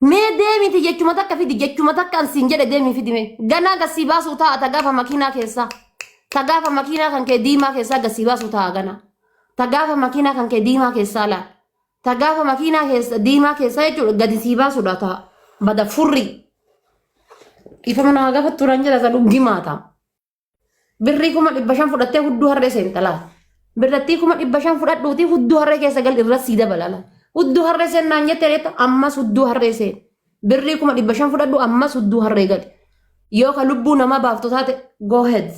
Mee deemiti jechuma takka fidi jechuma takka an siin jedhe deemii fidi mee. Ganaa gassii baasuu ta'a ta gaafa makiinaa keessaa. Ta gaafa makiinaa kan kee diimaa keessaa gassii baasuu ta'a ganaa. Ta gaafa makiinaa kan kee diimaa keessaa laal. Ta gaafa makiinaa keessa diimaa keessaa jechuudha gadi sii baasuudha ta'a. Bada furrii. Ifama naa gafa turan jedha ta dhuggimaa ta'a. Birrii kuma dhibba shan fudhattee hudduu harree seenta laal. Birrattii kuma dhibba shan fudhadhuutii hudduu harree keessa gal irra sii dabala laal. Hudduu harree seen naan jettee reetta ammas hudduu harree seen. Birrii kuma dhibba shan fudhadhu ammas hudduu harree gali. Yoo ka lubbuu namaa baaftu taate go ahead.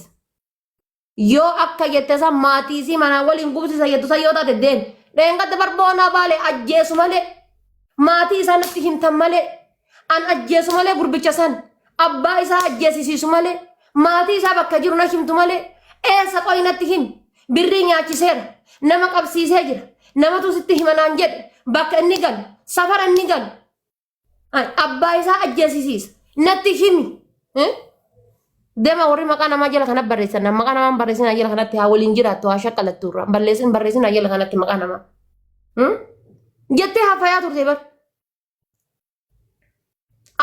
Yoo akka jette san maatii isii manaa waliin gubsisa jettu san yoo taate deemi. Dheengadda barboonaa baalee ajjeesu malee maatii isaanitti himtan malee An ajjeesu malee gurbicha san abbaa isaa ajjeesisiisu malee maatii isaa bakka jiru na himtu malee eessa qoyi natti himi birrii nyaachiseera nama qabsiisee jira namatu sitti hima naan jedhe bakka inni galu safara inni galu Ay, abbaa isaa ajjeesisiisa natti himi Eh? dema warri maqaa namaa jala kana barreessan maqaa namaa hin barreessin haa jala kanatti haa waliin jiraattu haa shakkalattu irraa balleessin barreessin haa jala kanatti maqaa namaa Hmm? jettee haafayaa turte bar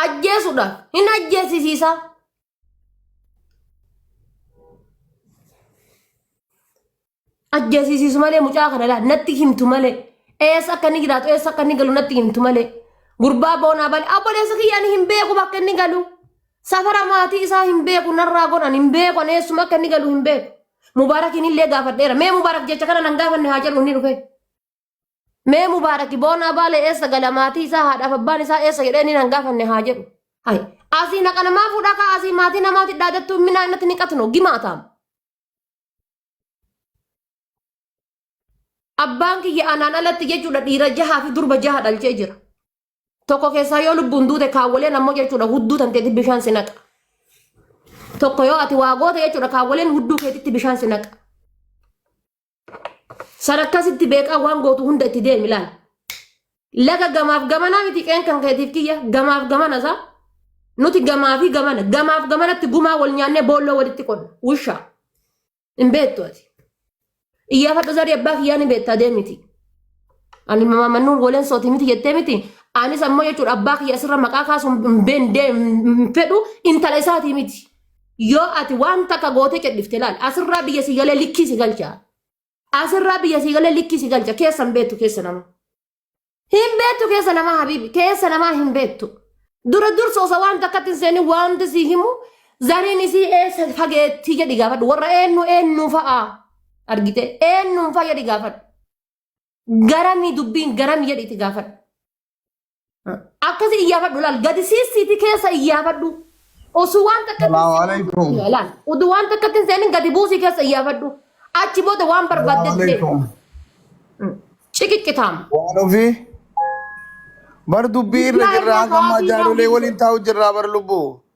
ajjeesudha hin ajjeesisiisa ajjeesisiisu malee mucaa kana laa natti himtu malee eessa akka inni jiraatu eessa akka inni galu natti himtu malee gurbaa boonaa balee abboleessa kiyyaan hin beeku bakka inni galu safara maatii isaa hin beeku narraa godhan hin beeku ani eessuma akka inni galu hin beeku mubaarakiin illee gaafadheera mee mubaarak jecha kana nan gaafanne haa jedhu inni dhufe Mee mubaaraki boonaa baalee eessa gala maatii isaa haadhaaf abbaan isaa eessa jedhee inni hin gaafanne haa jedhu. Hai. Asii naqa namaa fuudhaa kaa asii maatii namaatti dhaadattuu minaa innatti ni qatno gimaataam. Abbaan kiyya anaan alatti jechuudha dhiira jahaa fi durba jaha dhalchee jira. Tokko keessaa yoo lubbuun duute kaawwaleen ammoo jechuudha hudduu tanteetti bishaan si naqa. Tokko yoo ati waa goote jechuudha kaawwaleen hudduu keetitti bishaan si naqa. Sarakkaa sitti beekaa waan gootu hunda itti deemi laal. Laga gamaaf gamanaa miti qeen kan keetiif kiyya gamaaf gamana isaa. Nuti gamaa fi gamana gamaaf gamanatti gumaa wal nyaannee boolloo walitti qonna wushaa. Hin beektu ati. Iyyaafadhu zarii abbaa kiyyaa ni beektaa deemiti. Ani mamamannuu waleen sooti miti jettee miti. Anis ammoo jechuudha abbaa kiyya asirra maqaa kaasuun hin beendee hin fedhu intala isaatii miti. Yoo ati waan takka gootee cadhifte laal asirraa biyya si galee likkii si galcha. Asirraa biyya si galee likkii si galcha keessa hin beektu keessa nama. Hin beektu keessa namaa habiibi keessa namaa hin beektu. Dura dursa osoo waan takkatti hin seenin wanti si himu zariin isii eessa fageettii jedhi gaafadhu warra eenyu eenyu fa'a argite eenyuun fa'a jedhi gaafadhu. Garamii dubbiin garamii jedhi itti gaafadhu. Akkasii iyyaafadhu laal gadi siistiiti keessa iyyaafadhu. Osoo waan takka Salaamu alaikum. laal utuu waan takka ittiin seenin gadi buusii keessa iyyaafadhu. Achi booda waan Salaamu barbaadde alaikum. ciqiccitaam. Waan ofii bar dubbii irra Bismillah, jirra Allahu hanga ammaa Akbar, jaarolee Allahu waliin taa'u jirraa bar lubbuu.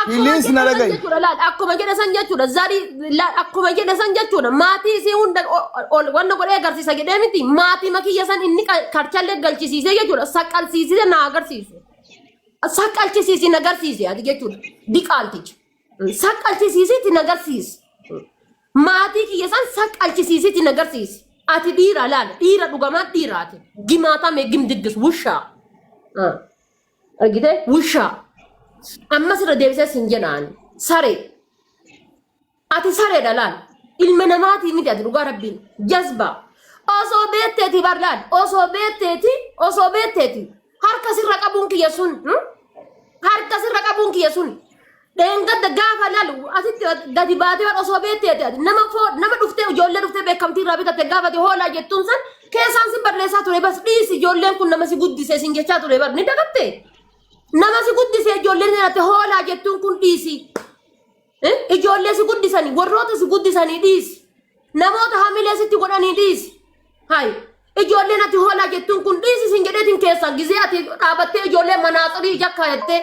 Akkuma Please jedha na san dhaga'i. jechuudha laal akkuma jedha san jechuudha zarii laal akkuma jedha san jechuudha maatii isii hunda o- ol wanna godhee agarsiisa jedhee miti maatii makiyya san inni ka- karchallee galchisiisee jechuudha saqqalsiisee na agarsiisu saqqalchisiisi na agarsiise ati jechuudha diqaalticha saqqalchisiisiiti na agarsiisi maatii kiyya san saqqalchisiisiiti na agarsiisi ati dhiira laal dhiira dhugamaa dhiiraati gimaatame gimdiddis wushaa. Ah. argite wushaa ammas irra deebisee sin jenaan saree ati sareedha laal ilma namaatii miti ati dhugaa rabbiin jazba osoo beetteeti bar laal osoo beetteeti osoo beetteeti harka sirra qabuun kiyya sun hmm? harka sirra qabuun kiyya sun Dheengadda gaafa lalu asitti gadi baatee waan osoo beektee ati nama foo nama dhuftee ijoollee dhuftee beekamtii irraa bitatte gaafate hoolaa jettuun san keessaan si barreessaa ture bas dhiisi ijoolleen kun nama si guddise sin jechaa ture bar ni dagatte nama si guddise ijoolleen sin ati hoolaa jettuun kun dhiisi Eh, ijoollee si guddisanii warroota si guddisanii dhiisi namoota hamilee sitti godhanii dhiisi hayi Ijoolleen ati hoolaa jettuun kun dhiisi siin jedheetiin keessa gizee ati dhaabattee ijoollee manaaxirii ija kaayattee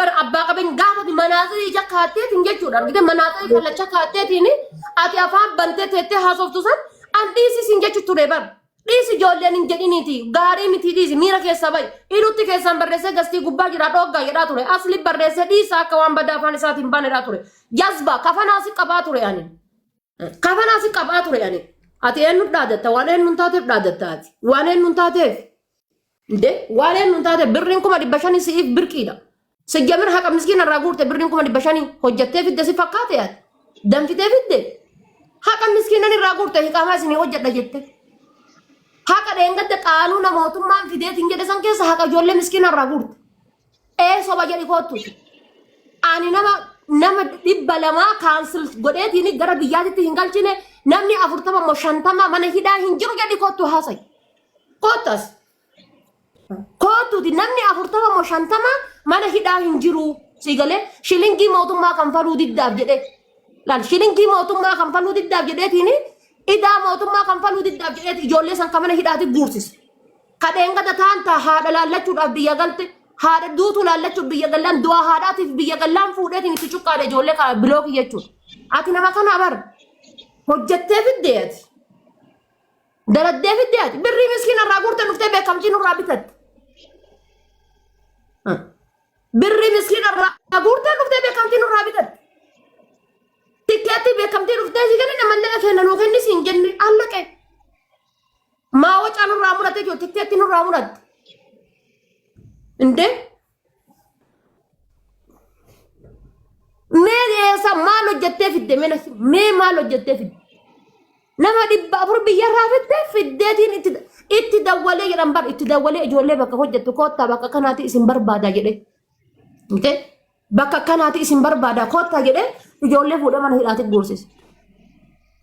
bar abbaa qabeenya gaafa ati manaaxirii ija kaayatteetiin jechuudha argite manaaxirii kallacha kaayatteetiin ati afaan bantee teettee haasoftu san an dhiisi siin jechu ture bar dhiisi ijoolleen hin jedhiniiti gaarii miti dhiisi miira keessaa bayi dhiirutti keessaan barreessee gastii gubbaa jira dhooggaa jedhaa ture asli barreessee dhiisa akka waan badaa afaan isaatiin baanedhaa ture jazba kafanaa si qabaa ture ani. Kafanaa si qabaa ture ani. Ati eenyu dhaadatta waan eenyu hin taateef dhaadatta ati. Waan eenyu hin taateef. Inde waan eenyu hin taateef birriin kuma dhibba shanii si'iif birqiidha. Sijjamir haqa miskiina irraa guurte birriin kuma dhibba shanii hojjattee fidde si fakkaate ati. Danfitee fidde. Haqa miskiinan irraa guurte hiqaamaa isinii hojjedha jette. Haqa dheengadda qaanuuna mootummaan fideetiin jedhe san keessa haqa ijoollee miskiina irraa guurte. Ee soba jedhi koottu. Ani nama nama dhibba lamaa kaansil godheetiin gara biyyaatitti hin galchine namni afurtama immoo shantama mana hidhaa hin jiru jedhi koottu haasa'e. Koottas koottuuti namni afurtama immoo shantama mana hidhaa hin jiru sii galee shilingii mootummaa kanfaluu diddaaf jedhee laal shilingii mootummaa kanfaluu diddaaf jedheetiin idaa mootummaa kanfaluu diddaaf jedheeti ijoollee san kan mana hidhaati guursise. Ka dheengada taan ta haadha laallachuudhaaf biyya galte haadha duutu laallachuuf biyya gallaan du'a haadhaatiif biyya gallaan fuudheetiin itti cuqqaale ijoollee ka bilookii jechuudha. Ati nama kana bar hojjettee fiddee ati daladdee fiddee ati birrii miskiina irraa guurtee dhuftee beekamtii nurraa bitatte. Birrii miskiina irraa guurtee dhuftee beekamtii nurraa bitatte. Tikkeetti beekamtii dhuftee si kennin ammallee kenna nuu kenni siin jenne allaqee. Maa wacaa nurraa muratte jechuudha. Tikkeetti nurraa muratte. Indee? Mee eessa maal hojjettee fidde mee nasi? Mee maal hojjettee fidde? Nama dhibba afur biyyarraa fidde fiddeetiin itti itti dawwalee jedhan bar itti dawwalee ijoollee bakka hojjettu koottaa bakka kanaati isin barbaada jedhee. Intee? Bakka kanaati isin barbaada koottaa jedhee ijoollee fuudhee mana hidhaatti guursise.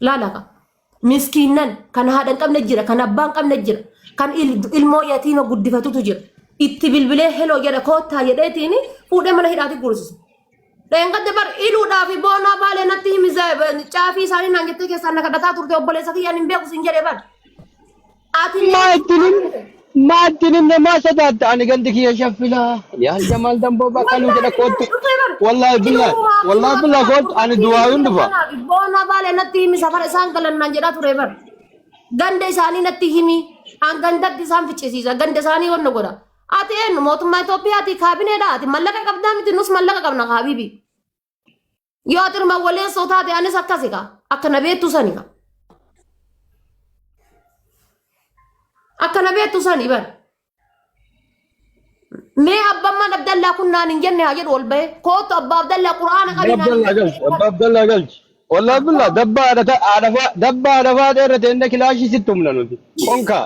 Laala qaba. miskiinnan kan haadha hin qabne jira kan abbaa hin qabne jira kan il- ilmoo yatiima guddifatutu jira itti bilbilee heloo jedha koottaa jedheetiin fuudhee mana hidhaati guursisa. Dheengadde bar iluudhaa fi boonaa baalee natti himi caafii isaanii naan jettee keessaan na kadhataa turte obboleessa kiyyaan hin beeku siin jedhee bar. Ati Maa mee ittinin maa ittinin namaa sodaatta ani gandi kiyya shaffila yaa jamaal damboo bakka nu jedha koottu wallaahi billaa wallaahi billaa koottu ani duwaayuun dhufa Boona baale natti himi safara isaan galan naan jedhaa ture bar. Ganda isaanii natti himi. An gandatti isaan ficcisiisa. Ganda isaanii wanna godha. Ati eenyu mootummaa Itoophiyaati kaabineedha. Ati mallaqa qabdaa miti nus mallaqa qabna kaabibi. Yoo ati ilma waleessoo taate anis akkasi kaa akka na beektu sani kaa. Akka na beektu sani bari. Mee abbaan mana Abdallaa kun naan hin jenne haa jedhu ol bahee kootu abbaa Abdallaa quraana Abba qabii naan hin Abdallaa galchi. Abba Abdallaa galchi. Wallah billah dabba haadha ta- haadha faa- dabba haadha faadha irra teenne kilaashii sitti humna nuti. Konkaa.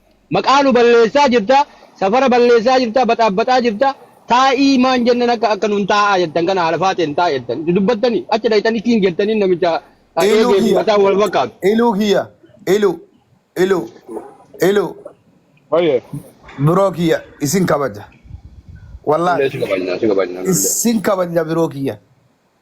Maqaa nu balleessaa jirta, safara balleessaa jirta, baxaabbaxaa jirta, taa'ii maan jennan akka akka nuun taa'aa jettan kana haala faaxeen taa'i jettan itti dubbattanii achi dhayxanii kiing jettanii namicha ah, Iluu eegee fi kiyya. mataan wal fakkaatu. Iluu kiyya. Iluu. Iluu. Iluu. Baay'ee. Biroo kiyya isin kabaja. Nullee Wallaahi si kabajna, si kabajna nullee. isin kabaja biroo kiyya.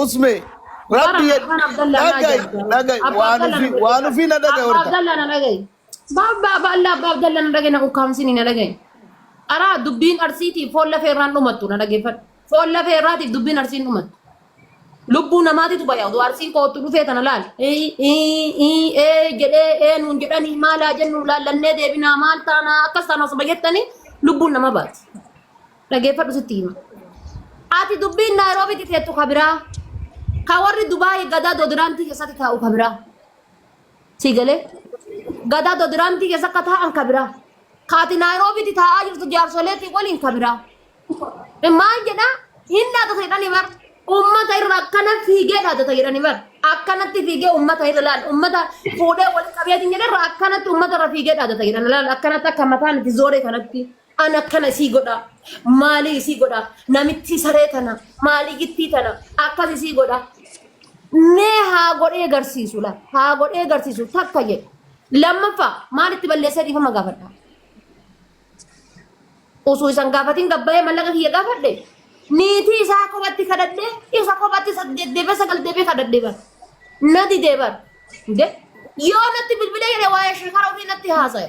Usme Bara rabbi yad Abban Abdallah naa dhagai jedha. dhagai Abba waan Abdallah ufi na waan dhaggeeffadha. ufi na dhagai Abba horta. Abdallah na dhaga'i. Baabba Abba Allah Abba Abdallah na dhaga'i na ukkaamsini na dhaga'i. Araa dubbiin arsiitiif foon lafee irraan dhumattu na dhaggeeffadha. Foon lafee irraatiif dubbiin arsiin dhumattu. Lubbuu namaatitu baya oduu arsiin koottu dhufee tana laali. Ii ii ii ee jedhee ee nuun jedhanii maalaa jennu laallannee deebinaa maal taanaa akkas taana osuma jettanii lubbuun nama baati. Dhageeffadhu sitti hima. Ati dubbiin Naayiroobiitti teettu ka biraa. Ka warri Dubaayii gadaa doodiraantii keessatti taa'u ka biraa. Sii galee? Gadaa doodiraantii keessa akka taa'an ka biraa. Ka ati Naayiroobiitti taa'aa jirtu jaarsoleetii waliin ka biraa. Maal jedhaa? Hin dhaadata jedhani bar. Uummata irra akkana fiigee dhaadata jedhani bar. Akkanatti fiigee uummata irra laal. Uummata fuudhee walitti qabeetiin jedhe irra akkanatti uummata irra fiigee dhaadata jedhani laal. Akkanatti akka mataan itti zooree kanatti. An akkana isii godhaa maalii isii godhaa namittii saree tana maalii gittii tana akkas isii godhaa mee haa godhee garsiisu la haa godhee garsiisu takka jedhe lammaffaa maalitti balleessee dhiifama gaafadha osoo isan gaafatiin gabbahee mallaqa kiyya gaafadhe niitii isaa kophatti kadhadhee isa kophatti saddeet deebee sagal deebee kadhadhee bar na didee bar de yoo natti bilbilee jedhe waa'ee shekara ofii natti haasa'e.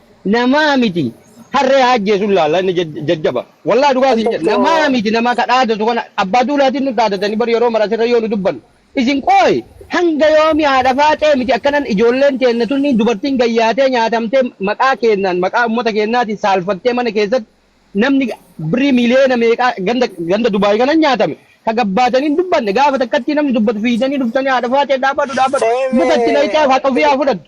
Namaa miti harree haa ajjeesu ilaalla inni jajjaba. Wallahi dhugaa siin jedha namaa Astagfirullah. miti nama ka dhaadatu kana abbaa duulaatiin nu dhaadatanii bar yeroo mara asirra yoo nu dubbannu. Isin qooyi hanga yoomi haadha faaxee miti akkanan ijoolleen teenna tunni dubartiin gayyaatee nyaatamtee maqaa keennaan maqaa ummata keennaatiin saalfattee mana keessatti namni birrii miiliyoona meeqaa ganda ganda Dubaay kanan nyaatame ka gabbaatanii hin dubbanne gaafa takkattii namni dubbatu fiidanii dhuftanii haadha faaxee dhaabadhu dhaabadhu Eme. mukatti nayxaaf haqa ofii haa fudhattu.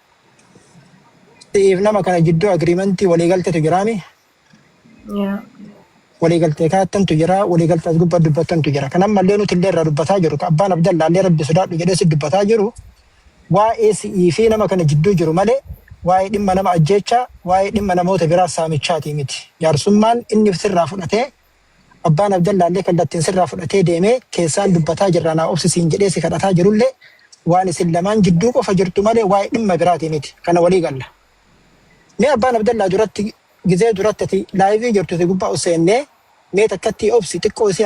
Si'iif nama kana jidduu agiriimantii waliigalteetu jiraami. Yaa. Waliigaltee kaattantu jira. Waliigaltee as gubbaa dubbattantu jira. Kan ammallee nuti illee irraa dubbataa jiru. Kan abbaan Abdallaa illee rabbi sodaadhu jedhee si dubbataa jiru. Waa'ee si'ii fi nama kana jidduu jiru malee waa'ee dhimma nama ajjeechaa, waa'ee dhimma namoota biraa saamichaatii miti. Jaarsummaan inni sirraa fudhatee Abbaan Abdallaallee kallattiin sirraa fudhatee deemee keessaan dubbataa jirraa naa obsi siin jedhee si kadhataa jirullee waan isin lamaan jidduu qofa jirtu malee waa'ee dhimma biraatii miti. Kana walii galla. Mee Abbaan Abdallaa duratti gizee duratti ati laayivii jirtu si gubbaa ol seennee mee takkattii obsi xiqqoo isii